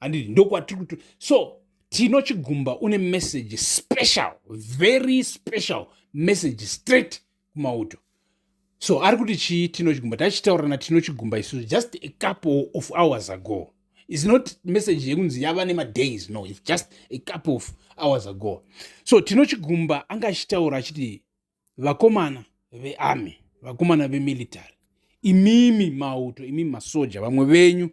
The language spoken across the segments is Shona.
handiti ndokwatiri kuti so tino chigumba une message special very special message straight kumauto so ari kuti chii tino chigumba tachitaura natino chigumba isusu just a couple of hours ago is not message yekunzi yava nemadays no its just a couple of hours ago so tino chigumba anga achitaura achiti vakomana vearmy vakomana vemilitary imimi mauto imimi masoja vamwe venyu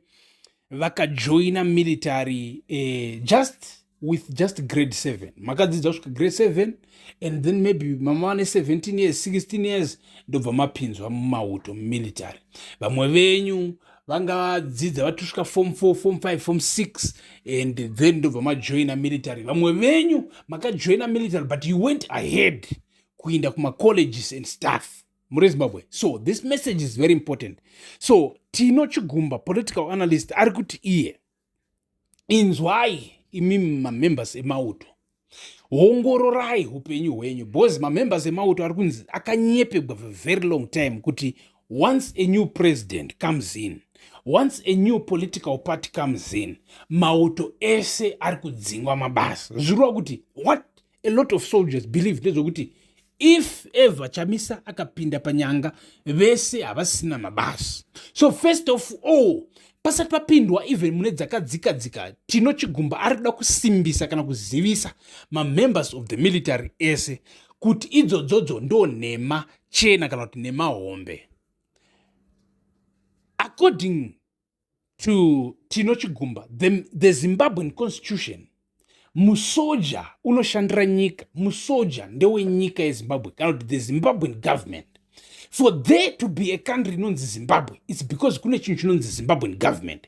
vakajoina military eh, just with just grade 7 makadzidza kusvika grade 7 and then maybe mama vane 17 years 16 years ndobva mapinzwa mumauto mumilitary vamwe venyu vanga vadzidza vatusvika form 4 form 5 form 6 and then ndobva majoina military vamwe venyu makajoina military but you went ahead kuinda kumacolleges and staff muri zimbabwe so this message is very important so tino chigumba political analyst ari kuti iye inzwai imi mamembers emauto ongororai upenyu hwenyu because mamembers emauto ari kunzi akanyepegwa for very long time kuti once a new president comes in once a new political party comes in mauto ese ari kudzingwa mabasa zvirova kuti what a lot of soldiers believe ndezvekuti if ever chamisa akapinda panyanga vese havasina mabasa so first of all pasati papindwa even mune dzakadzika dzika tino chigumba ari kuda kusimbisa kana kuzivisa mamembers of the military ese kuti idzodzodzo ndo nhema chena kana kuti nhema hombe according to Tino Chigumba, the, the Zimbabwean constitution, musoja unoshandira nyika, musoja ndewenyika yeZimbabwe, kana kuti the Zimbabwean government. For there to be a country inonzi Zimbabwe, it's because kune chinhu chinonzi Zimbabwean government.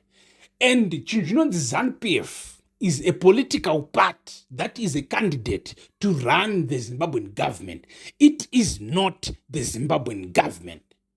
And chinhu chinonzi ZANPF is a political party that is a candidate to run the Zimbabwean government. It is not the Zimbabwean government.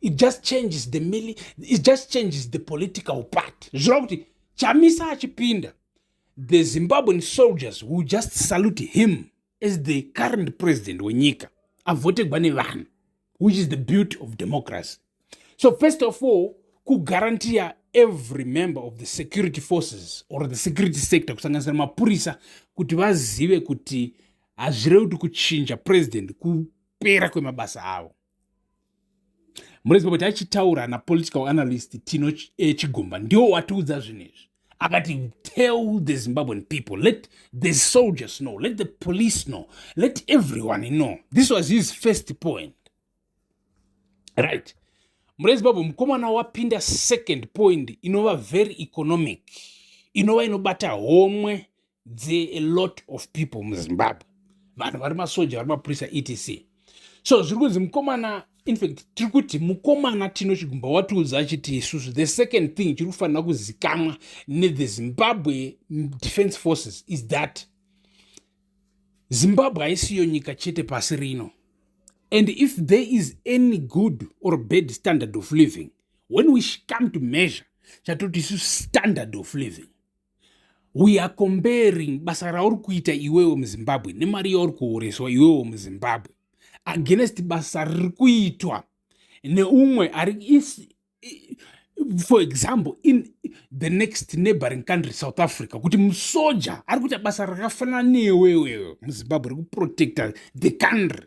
it just changes the mili it just changes the political part zvireva kuti chamisa achipinda the zimbabwean soldiers will just salute him as the current president wenyika avotegwa nevanhu which is the beauty of democracy so first of all kugarantiya every member of the security forces or the security sector kusanganisira mapurisa kuti vazive kuti hazvirevi kuti kuchinja president kupera kwemabasa avo muridzi wekuti achitaura napolitical analyst tino eh, chigumba ndiwo watiudza zvinhu izvi akati tell the zimbabwean people let the soldiers know let the police know let everyone know this was his first point right muridzi babo mukomana wapinda second point inova very economic inova inobata homwe there a lot of people muzimbabwe vanhu vari masoja vari mapurisa etc so zviri kunzi mukomana infact tiri kuti mukomana tino chigumba watiudza achiti isusu the second thing chiri kufanira kuzikamwa nethe zimbabwe defense forces is that zimbabwe haisiyo nyika chete pasi rino and if there is any good or bad standard of living when we come to measure chatoti isu standard of living we are comparing basa rauri kuita iwewe muzimbabwe nemari yauri kuhoreswa iwewe muzimbabwe against basa riri kuitwa neumwe ari for example in the next neighboring country south africa kuti musoja ari kuita basa rakafanana newewewe muzimbabwe rekuprotecta the country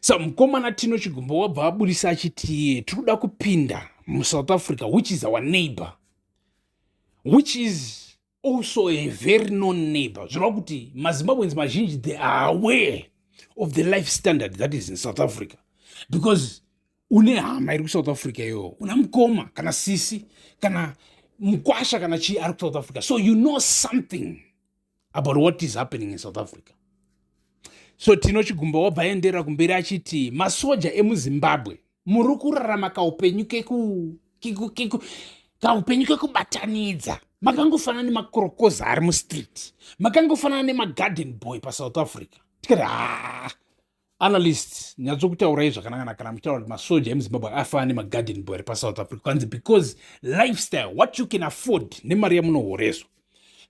sa mukomana tino chigumbo wabva aburisa achiti tiri kuda kupinda musouth africa which is our neighbor which is also a very known neighbor zvireva kuti mazimbabweans mazhinji they are aware of the life standard that is in south africa because une hama iri kusouth africa iyoyo una mukoma kana sisi kana mukwasha kana chii ari kusouth africa so you know something about what is happening in south africa so tino chigumba wabva aenderera kumberi achiti masoja emuzimbabwe muri kurarama kaupenyu keku kaupenyu kekubatanidza makangofanana nemakorokoza ari mustreet makangofanana nemagarden boy pasouth africa tikati haa analyst nyatsokutaurai zvakanangana kana muchitaura kuti masoja emuzimbabwe afanana nemagarden boy ari pasouth africa kwanzi because lifestyle what you can afford nemari yamunohoreswa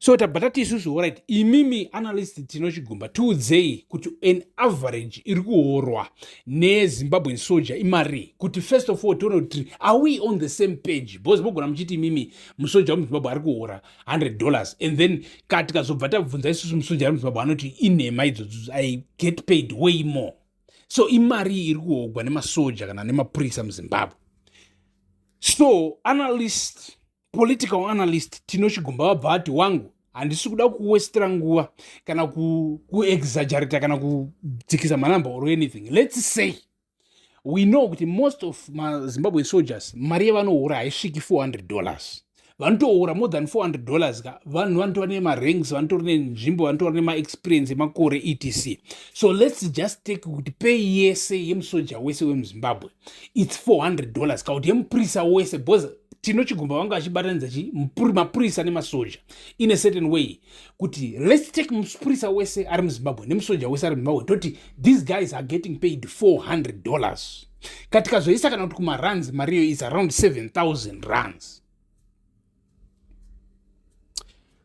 so tabva tati isusu orit imimi analyst tinochigumba tiudzei kuti an average iri kuhorwa nezimbabwen soja imarii kuti first of all tione kuti are we on the same page because mogona muchiti imimi musoja wemuzimbabwe ari kuhora 100 dollars and then ka tikazobva tabvunza isusu musunjari muzimbabwe anoti inhema idzodzo i get paid way more so imari iri kuhogwa nemasoja kana nemapurisa muzimbabwe so analyst political analyst tinochigumba vabva vati wangu handisi kuda kuwestera nguva kana kuexagerata kana kudzikisa manumber or anything lets say we know kuti most of mazimbabwe soldiers mari yevanohura haisviki 400 dollars vanotohura more than 400 dollars ka vanhu vanotora nemaranks vanotora nenzvimbo vanotora nemaexperience emakore etc so lets just take kuti pei yese yemusoja wese wemuzimbabwe its 400 dollars ka kuti yemupurisa wese because tinochigumba vanga vachibatanidza chi mapurisa nemasoja in a certain way kuti let's take mupurisa wese ari muzimbabwe nemusoja wese ari muzimbabwe toti these guys are getting paid 400 dollars katikazoisa kana kuti kumaruns mariyo is around 7000 runs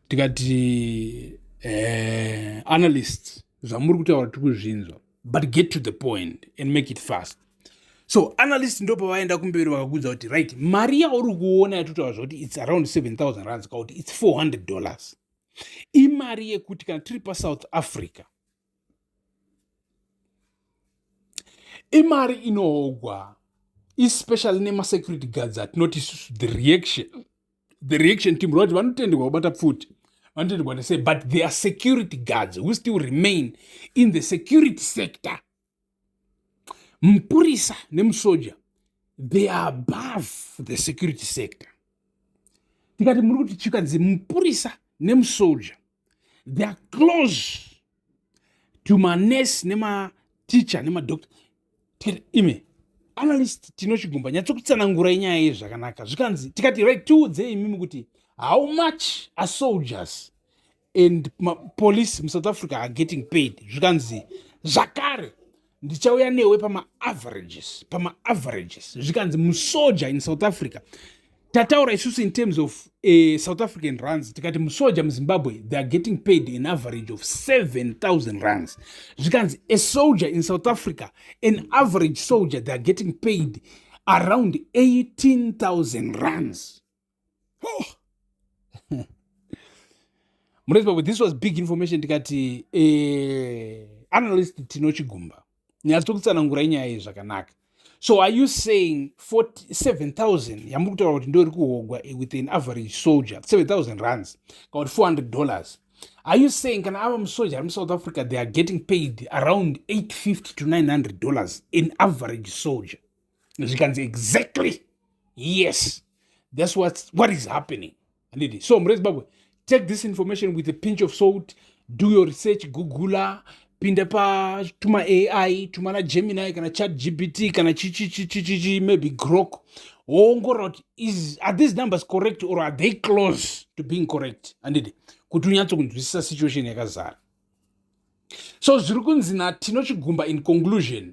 tikati eh, analyst zvamuri kutaura tiri kuzvinzwa but get to the point and make it fast so analyst ndopa vaenda kumberi vakakudza kuti right mari yauri kuona yatotaura zvakuti its around 7000 rands ka kuti its 400 dollars imari yekuti kana tiri pasouth africa imari inoogwa especially nemasecurity guards atinoti isusu the reaction the reaction team roti vanotenderwa kubata pfuti vanotenderwa to say but there are security guards who still remain in the security sector mupurisa nemusoja they are above the security sector tikati muri kuti chikanzi mupurisa nemusoja they are close to manurse nemateacher nemadoctor tikati ime analyst tinochigumba nyatsokutsanangura inyaya yei zvakanaka zvikanzi tikati right tiudzei imimi kuti how much are soldiers and police musouth africa are getting paid zvikanzi zvakare ndichauya newe pamaaverages pamaaverages zvikanzi musoja in south africa tataura isusu in terms of uh, south african runs tikati musoja muzimbabwe they are getting paid an average of 7000 runs zvikanzi a soldier in south africa an average soldier they are getting paid around 18000 runs oh. murezimbabwe this was big information ndikati eh, analyst tino chigumba nyaya tokutsanangura inyaya iyi zvakanaka so are you saying 7,000 yamuri kutaura kuti ndori kuhogwa with an average soldier 7,000 runs kana kuti 400 dollars are you saying kana ava musoja ari musouth africa they are getting paid around 850 to 900 dollars an average soldier zvikanzi exactly yes that's what, what is happening handiti so mure zimbabwe take this information with a pinch of salt do your research googula pinda pa tuma ai tuma na gemini kana chat gpt kana chichichichichichi maybe grok woongorora kuti is are these numbers correct or are they close to being correct handidi kuti unyatso kunzwisisa situation yakazara so zviri kunzi na tinochigumba in conclusion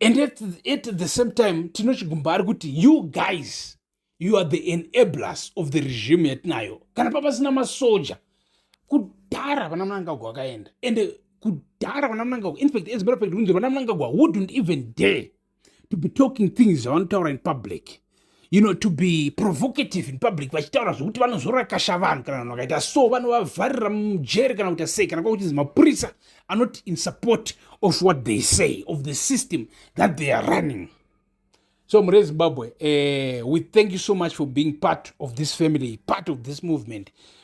and at, at the same time tinochigumba ari kuti you guys you are the enablers of the regime yatinayo kana papasina masoja kudhara vana munangagwa vakaenda and kudhara vana munangagwa infact as matter of fact kunzi vana munangagwa wouldn't even dare to be talking things zvavanotaura in public you know to be provocative in public vachitaura zvekuti vanozorakasha vanhu kana vanhu vakaita so vanovavharira mujeri kana kuita sei kana kwakuchinzi mapurisa are not in support of what they say of the system that they are running so mure zimbabwe uh, we thank you so much for being part of this family part of this movement